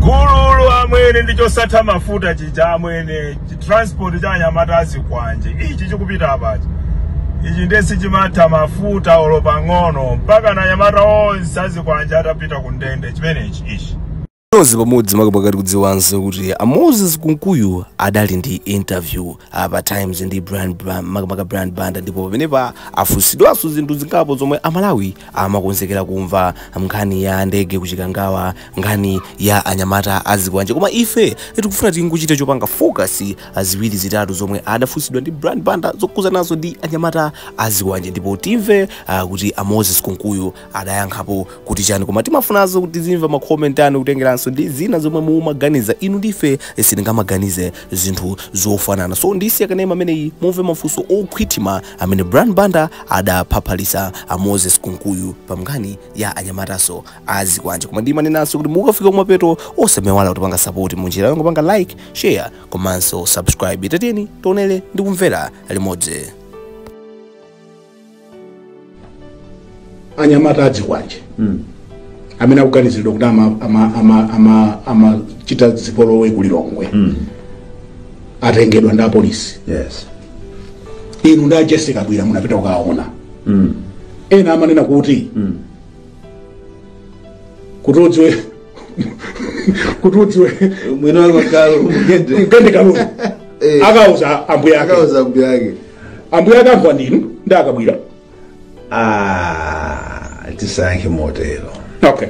gululu amwene ndi chosatha mafuta chija amwene chitransport cha anyamata azikwanje ichi chikupita apachi ichi ndiye sichimatha mafuta olo pang'ono mpaka na anyamata onse azikwanje atapita ku ndende chimenechi ichi tonse pamodzi makamaka tikudziwanso kuti a moses kunkuyu adali ndi interview ah, pa times ndi brian Bra- makamaka brian banda ndipo pamenepa afunsidwanso zinthu zingapo zomwe amalawi amakonzekera kumva nkhani ya ndege kuchikangawa nkhani ya anyamata azikwanje koma ife tikufuna tingochita chopanga focus ziwiri zitatu zomwe adafunsidwa ndi brian banda zokhudzana nazo ndi anyamata azikwanje ndipo timve uh, kuti a moses kunkuyu adayankhapo kuti chani koma timafunanso kuti tizimva makomenti anu kutengeranso ndi zina zomwe mumaganiza inu ndife sitingamaganize zinthu zofanana so ndisiya kanema ameneyi mumve mafunso okhwitima amene Brian Banda adapaphalitsa a Moses Kunkuyu pa nkhani ya anyamataso a zikwanje koma ndimanenanso kuti mukafika kumapeto osamaiwala kutipanga sapoti mu njira yongopanga like share komanso subscribe tatiyeni tionere ndi kumvera limodzi anyamata azikwanje amene akuganiziridwa kuti ama- ama- ama- ama- amachita zipolowe ku lilongwe atengedwa ndi apolisi yes inu ndi a jessica kabwira munapita kukaona ena amanena kuti kuti udziwe kuti udziwe mwini wa galu mugende mugende galu Eh. akauza ambuya ake akauza mbuya ake ambuya ake anthu ndinu ndi a kabwira Ah, tisayankhe motero okay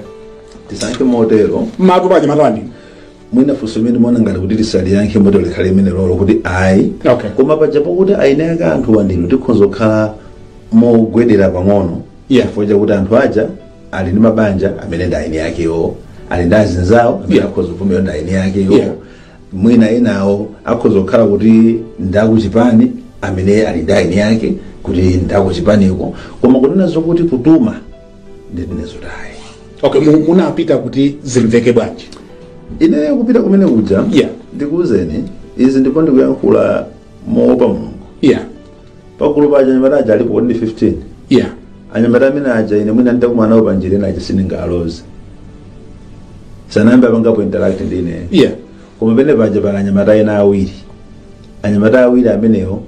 tisayankhe motero matu paja matani mwina funso limene mwanena ngati kuti tisaliyankhe motero likhale limene lolo kuti ayi Okay. koma paja pakuti eni ake anthuwa ndinu tikhoza kukhala mogwedera pang'ono Yeah. chifukwa chakuti anthu aja ali ndi mabanja amene ndi eni akewo ali ndi azinzawo amene Yeah. akhoza kuvomera ndi eni akewo Yeah. mwina enawo akhoza kukhala kuti ndakuchipani amene ali ndi eni ake kuti ndakuchipaniko koma kunena zokuti kutuma ndinena zoti ayi okay mu- munapita kuti zimveke bwanji ine kupita kumene kuja Yeah. ndikuwuzeni izi ndipo ndikuyankhula moopa mulungu yeah pagulu paja anyamata aja alipo kodi ndi 15 yeah anyamata amene aja ine mwina nditakumana nawo panjira ena aja sindingaloze sanayambe apangapo interact ndi ineyo yeah koma penepaja pali anyamata ena awiri anyamata awiri amenewo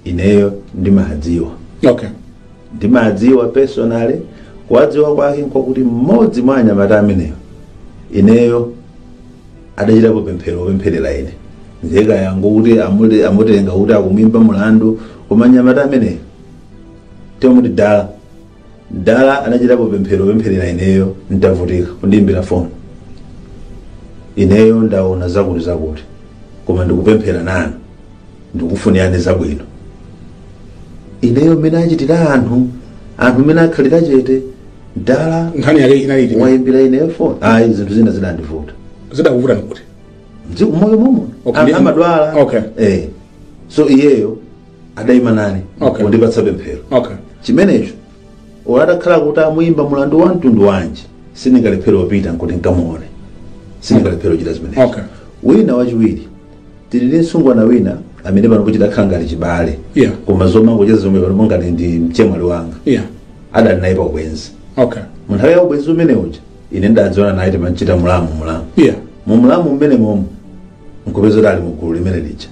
ineyo ndimawadziwa okay ndimawadziwa personally kuwadziwa kwake nkwakuti mmodzi mwa anyamata amenewo ineyo adachitapo pemphero opempherera ine ntheka yangu kuti amule- amutenga kuti akumwimba mulandu koma mnyamata ameneyo timamuti dala dala adachitapo pemphero opempherera ineyo ntavutika kundiimbira foni ineyo ndaona zakuti zakuti koma ndikupemphera nanu ndikufunirani zabwino ineyo mmene achitira anthu anthu mmene akhalira chete dala nkhani yake inali iti wayimbira ine foni ayi zinthu zina zidandivuta zidakuvuta nikuti mdziko moyo momwe Okay. anthu amadwala Okay. eh so iyeyo adayima nane Okay. kundipatsa pemphero okay chimenecho olo atakhala kuti amuyimba mulandu wa mtundu wanji sindingalephera kupita nkuti nkamuone sindingalephera kuchita zimenezo Okay. wina wachiwiri tili ndi msungwana wina amene panopo tidakhala ngati chibale Yeah. koma zomangocheza zomwe panopo ngati ndi mchemwali wanga yeah adali naye pa ubwenzi okay mu nthawi ya ubwenzi umene uja ine ndadziwana naye timachita mulamu mulamu yeah mu mulamu mmene momo nkupeza kuti ali mu gulu limene lija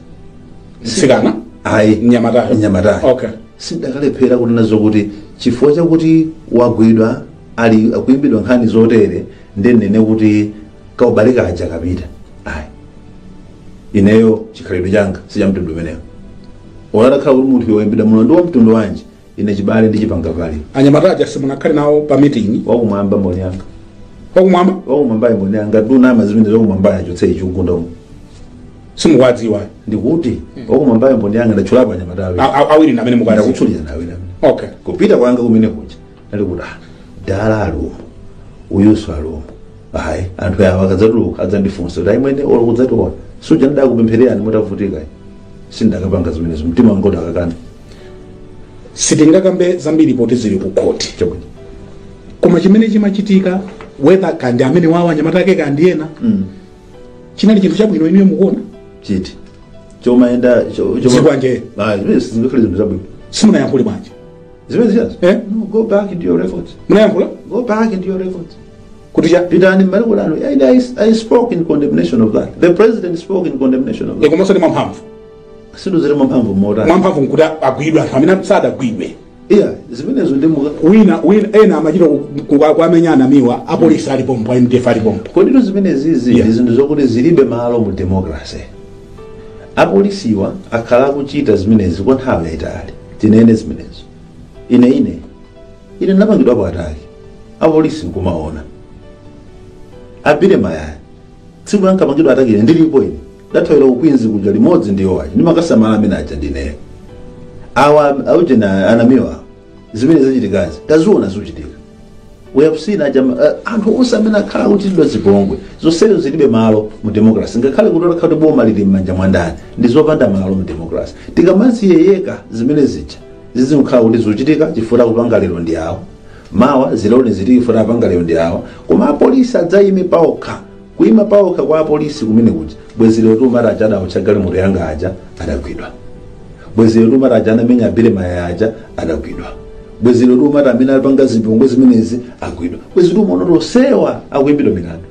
mtsikana ayi Mnyamatayo. mnyamatayo Okay. sindakalephera kunena zokuti chifukwa chakuti wagwidwa ali akuimbidwa nkhani zotere ndinene kuti kaubale kaja kapita ayi ineyo chikhalidwe changa sichamtundu umenewo olo atakhala kuti munthuyo ayimbidwa mulandu wa mtundu wanji ine chibale ndichipanga kale anyamata aja simunakhale nawo pa meeting wakumwamba mboni yanga wakumwamba wakumwamba mboni yanga ndunama zimenezo wakumwamba achotse chikugunda umu simukuwadziwa ndikuti wakumwamba mboni yanga ndatchulapo anyamata awiri A- a- awiri ndi amene mukuwadziwa ndakutchulira nawe namene okay kupita kwanga kumene kuja ali kuti "Ah, dala alimo uyuso alimo ayi anthu awa akadzatuluka adzandifunsa kuti achimwene olo kudzationa suja ndidakupemphererani mutavutika sindakapanga zimenezo mtima wanga udakakana sitingakambe zambiri poti zili ku khoti chabwino koma chimene chimachitika whether kaya ndi amenewawa anyamata ake kaya ndi ena Mm. chinali chinthu chabwino inuyo mukuona chiti chomayenda Zikwanje. zikwanje zinthu zabwino simunayankhule bwanji zimene zijazi Eh? no go back into your records munayankhula go back into your records kuti cha pitani m'ma record anu and I, i spoke in condemnation of that the president spoke in condemnation of that ndikomanso ndi mwamphamvu sindudziwa mwamphamvu motani mwamphamvu nkuti agwidwe anthu amene sadagwidwe iya zimenezo ndi muka wina wina ena amachita ku- ku- kuwamenya a namiwa apolisi ali pompo a mdf ali pompo koditu zimene zizi Yeah. ndi zinthu zokuti zilibe malo mu democracy apolisiwa akhala akuchita zimenezi kwa nthawi yayitali tinene zimenezo ine ine ine ndinapangidwapo attack apolisi nkumaona a billy mayaya tsiku lankapangidwa attack ine ndilipo ine ndathawira ku queens kuja limodzi ndi yowayi ndimakasamala amene aja ndineyo awa aujena a namiwa zimene zachitikazi taziona zikuchitika we have seen aja uh, anthu onse amene akhala akuchitidwa zipongwe zonsezo zilibe malo mu democracy ngakhale kuti otakhala kuti boma lili m'manja mwa ndani ndi zopanda malo mu democracy tikamazilekelera zimene zija zizikhala kuti zikuchitika chifukwa kupanga lero ndi awo mawa zizionekanso chifukwa apanga lero ndi awo koma apolisi adzayime paokha Kuima paokha kwa apolisi kumene kuja. Bwezi lero tiumati aja adaotcha galimoto yanga aja adagwidwa. Bwezi lero tiumati aja anamenya a Billy Mayaya aja adagwidwa. Bwezi lero tiumati amene alipanga zipongwe zimenezi agwidwa. Bwezi tiumaona kuti onsewa akuimbidwa milandu.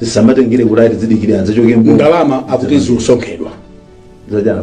Zisamatengere kuti ati zidikire anzawo achoke mbuyo. ndalama akuti zikusonkhedwa Zajana.